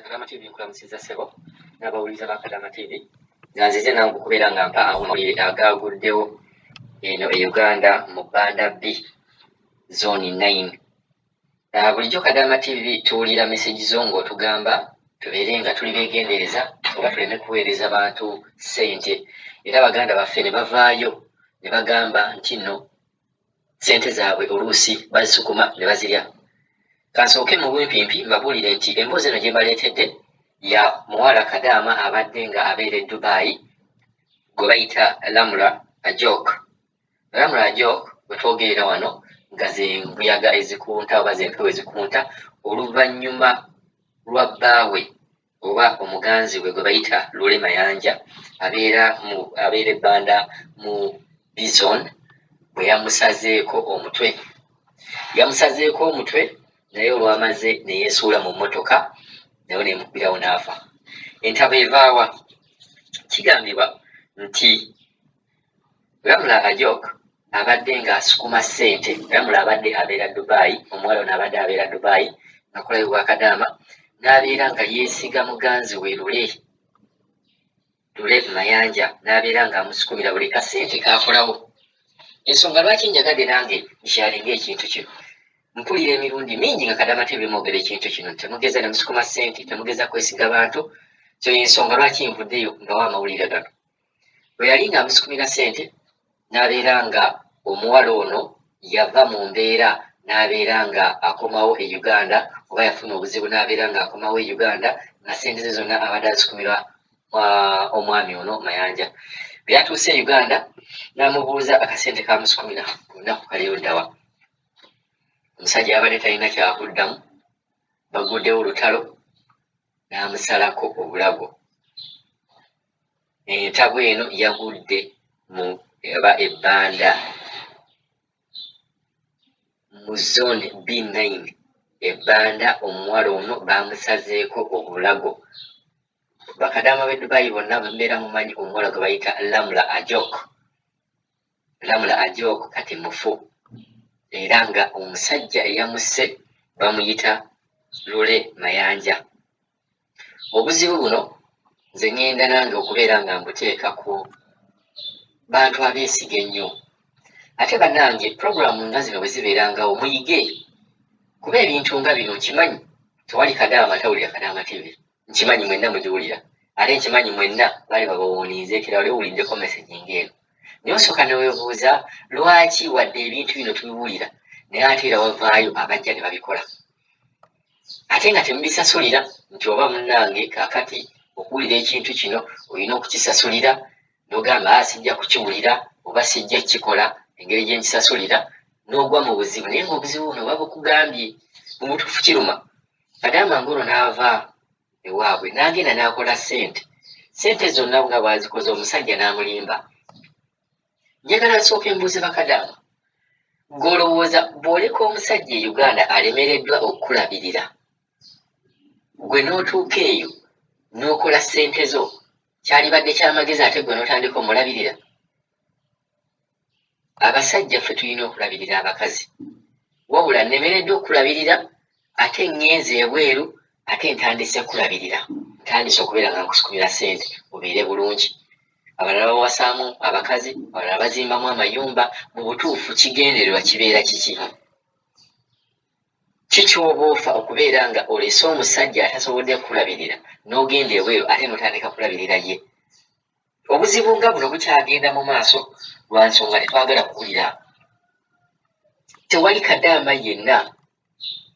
Kadama TV nkulamusiza ssebo n'abawuliriza ba Kadama TV nga nzize nange okubeera nga mpa amawulire agaaguddewo eno e Uganda mu Banda B zooni nine ah, bulijjo Kadama TV tuwulira meseji zo ng'otugamba tubeere nga tuli beegendereza oba tuleme kuweereza bantu ssente era baganda baffe ne bavaayo ne bagamba nti nno sente zaabwe oluusi bazisukuma ne bazirya kansooke mu bumpiimpi mbabuulire nti emboozi eno gye mbaleetedde ya muwala kadaama abadde nga abeera e dubayi gwe bayita lamula ajok lamula ajok bwe twogerera wano nga ze mbuyaga ezikunta oba ze mpewo ezikunta oluvannyuma lwa bbaawe oba omuganzi we gwe bayita Lule Mayanja abeera mu abeera e Banda mu Bizon bwe yamusazeeko omutwe. Yamusazeeko omutwe naye olwamaze ne yeesuula mu mmotoka nayo n'emuggwirawo n'afa. Entaba evaawa kigambibwa nti Ramula Ajok abadde nga asukuma ssente Ramula abadde abeera Dubai omuwala ono abadde abeera Dubai nakulayo bwakadaama n'abeera nga yeesiga muganzi we lule lule mayanja n'abeera nga amusukumira buli kasente kaakolawo ensonga lwaki njagadde nange nkyalinga ekintu kino mpulira emirundi mingi nga kadama tebimwogera ekintu kino temugeza nemusukuma ssente temugeza kwesiga bantu so yensonga lwaki nvuddeyo mbawo amawulire gano Bwe yali ng'amusikumira ssente n'abeera nga omuwala ono yava mu mbeera n'abeera nga akomawo e Uganda oba yafuna obuzibu n'abeera nga akomawo e Uganda nga ssente ze zonna abadde azikumirwa omwami ono Mayanja. Bwe yatuuse e Uganda n'amubuuza akasente k'amusikumira ku lunaku kali luddawa. Omusajja yabadde talina kyakuddamu baguddewo lutalo n'amusalako obulago. Entabwe eno yagudde mu eba ebbanda mu zone B9 ebbanda omuwala ono baamusazeeko obulago bakadaama b'e Dubai bonna mbeera mumanyi omuwala gwe bayita Lamula Ajok Lamula Ajok kati mufu era nga omusajja eyamusse bamuyita Lule Mayanja. obuzibu buno nze ŋŋenda nange okubeera nga mbuteeka ku bantu abeesiga ennyo ate bannange pulogulaamu nga zino bwe zibeerangawo muyige kuba ebintu nga bino nkimanyi tewali kadaama atawulira kadaama tivi nkimanyi mwenna mugiwulira ate nkimanyi mwenna bali babawuuniiza ekira wali owuliddeko mesegi ng'eno naye osooka newebuuza lwaki wadde ebintu bino tubiwulira naye ate era wavaayo abajja ne babikola ate nga temubisasulira nti oba munange kakati okuwulira ekintu kino olina okukisasulira nogamba ah, sijja kukiwulira oba sijja kukikola engeri gyenkisasulira nogwa mu buzibu naye nga obuzibu buno oba bukugambye mubutuufu kiruma madama ngolo naava ewaabwe nagenda nakola sente sente zonna nga bwazikoze omusajja namulimba njagala nsooke mbuuze bakadaama ng'olowooza bw'oleka omusajja e uganda alemereddwa okukulabirira gwe n'otuuka eyo n'okola ssente zo kyalibadde kyamagezi ate gwe n'otandika omulabirira abasajja ffe tulina okulabirira abakazi wabula nnemereddwa okukulabirira ate ŋŋenze ebweru ate ntandise kulabirira ntandise okubeera nga nkusikumira ssente obeere bulungi abalala bawasaamu abakazi abalala bazimbamu amayumba mu butuufu kigendererwa kibeera kiki kikyoba ofa okubeera nga olese omusajja atasobodde kulabirira n'ogenda ebweru ate notandika kulabirira ye obuzibu nga buno bukyagenda mu maaso lwa nsonga tetwagala kuwulira tewali kadaama yenna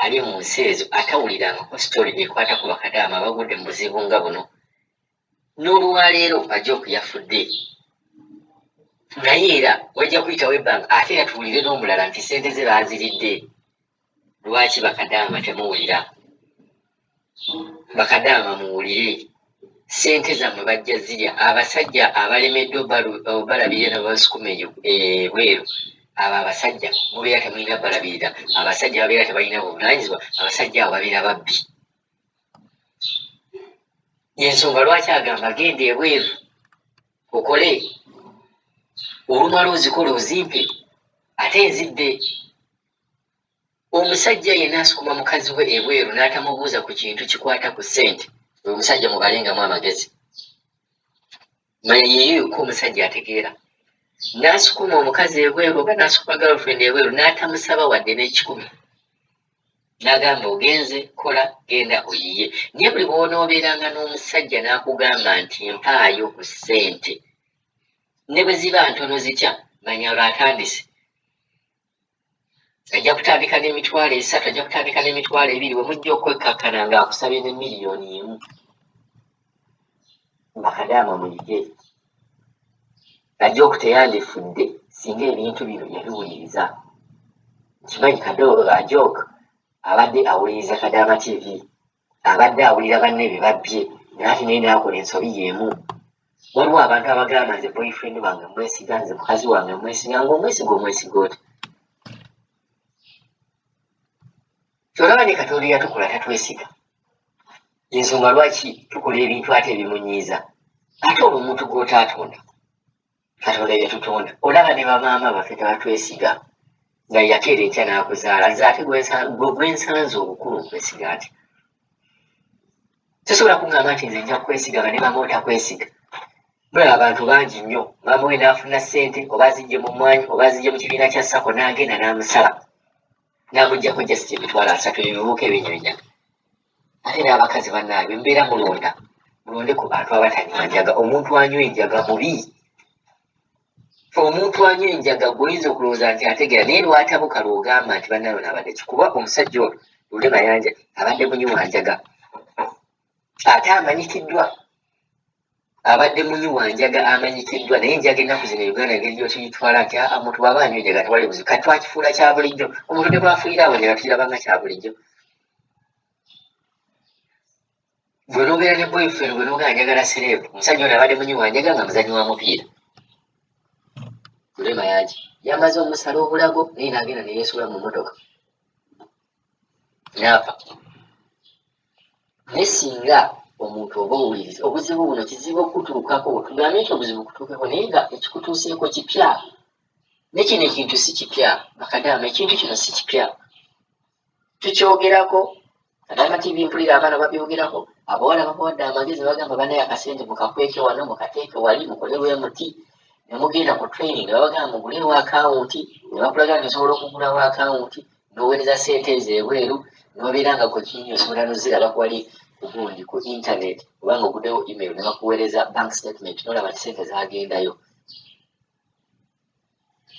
Ali mu nsi ezo atawulirangako story ekwata ku bakadaama abagudde mu buzibu nga buno n'olwaleero Ajok yafudde naye era wajja kuyitawo ebbanga ate era tuwulire n'omulala nti ssente ze baaziridde lwaki bakadaama temuwulira bakadaama muwulire sente zamwe bajja zirya abasajja abalemeddwa obalabirira nababasukuma eyo ebweru eh, abo abasajja mubeera temulina balabirira abasajja babeera tebalina buvunanyizibwa abasajja abo babeera babbi yensonga lwaki agamba genda ebweru okole olumala ozikola ozimpe ate nzidde Omusajja yenna asukuma mukazi we ebweru n'atamubuuza ku kintu kikwata ku ssente, oyo omusajja mubalengamu amagezi. Manya yeeyo yokka omusajja ategeera. N'asukuma omukazi ebweru oba n'asukuma girlfriend ebweru n'atamusaba wadde n'ekikumi. N'agamba ogenze kola genda oyiye. Naye buli bw'onoobeeranga n'omusajja n'akugamba nti mpaayo ku ssente ne bwe ziba ntono zitya manya olwo atandise. ajja kutandika n'emitwalo esatu ajja kutandika n'emitwalo ebiri we mujja okwekkakkana ng'akusabye ne miliyoni emu bakadaama muyige ajja okuteyandifudde singa ebintu bino yabiwuliriza kimanyi kadooba ajooka abadde awuliriza kadaama tv abadde abulira banne bye babbye naate naye naakola ensobi y'emu. Waliwo abantu abagamba nze boyfriend wange mwesiga, nze mukazi wange mwesiga, ng'omwesiga omwesiga oti. Kyolaba ne Katonda eyatukola tatwesiga. Y'ensonga lwaki tukola ebintu ate ebimunyiiza. Ate olwo omuntu gw'otaatonda. katonda yatutonda olaba ne bamaama baffe tebatwesiga nga yakeera enkya n'akuzaala nze ate gwensanze obukulu okwesiga nti tosobola kungamba nti nze nja kukwesiga nga ne mama otakwesiga mulaba abantu bangi nnyo mama we naafuna ssente oba zijje mu mwanyi oba zijje mu kibiina kya sako n'agenda n'amusala n'amugjako just emitwalo asatu ebibuuka ebinyonya ate n'abakazi bannange mbeera mulonda mulonde ku bantu abatanywa njaga omuntu anywa enjaga mubi fe omuntu anywa enjaga gwoyinza okulowooza nti ategeera naye lwatabuka lwogamba nti bannayo naabadde ki kuba omusajja ono lule mayanja abadde munywa njaga ate amanyikiddwa abadde munywi wa njaga amanyikiddwa naye enjaga ennaku zino uganda engeri gyotuyitwala nti aa omuntu waba anywa enjaga tewali buzibu kati twakifuula kya bulijjo omuntu ne bwafuira awo enjaga tukirabanga kya bulijjo gwe nobeera ne boyfriend gwe nogaa njagala sereebu omusajja ono abadde munywi wa njaga nga muzanyi wa mupiira kulema yaki yamaze omusala obulago naye nagenda neyesuula mu motoka naafa naye singa omuntu oba owuliriza obuzibu buno kizibu okutuukako tugambe nti obuzibu kutuukeko naye nga ekikutuuseeko kipya nekino ekintu si kipya bakadaama ekintu kino si kipya tukyogerako kadaama tivi mpulira abaana babyogerako abawala babawadde amagezi bagamba banaye akasente mukakweke wano mukateeke wali mukole wemuti nemugenda ku training nebabagamba mugulewo akawunti nebakulaga nti osobola okugulawo akawunti n'oweereza ssente ezo ebweru n'obeera nga ku kinyini osobola noziraba kwali kugundi ku internet obanga oguddewo email ne bakuweereza bank statement nolaba nti ssente zagendayo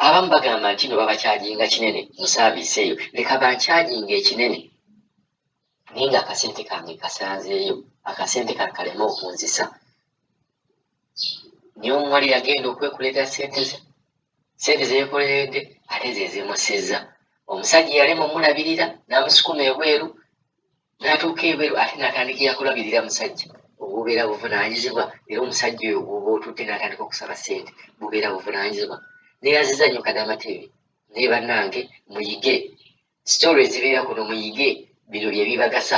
abamu bagamba nti no babakyajinga kinene mu saaviisi eyo leka bankyajinga ekinene naye nga akasente kange kasanzeeyo akasente kankaleme okunzisa naye omuwala yagenda okwekuleeta sente ze sente zeyekoleredde ate zezimusizza omusajja yalema omulabirira n'amusukuma ebweru n'atuuka ebweru ate n'atandika yakulabirira musajja obubeera buvunaanyizibwa era omusajja oyo gwoba otutte n'atandika okusaba sente bubeera buvunaanyizibwa neyaziza nyo kadama tv naye bannange muyige sitore ezibeera kuno muyige bino byebibagasa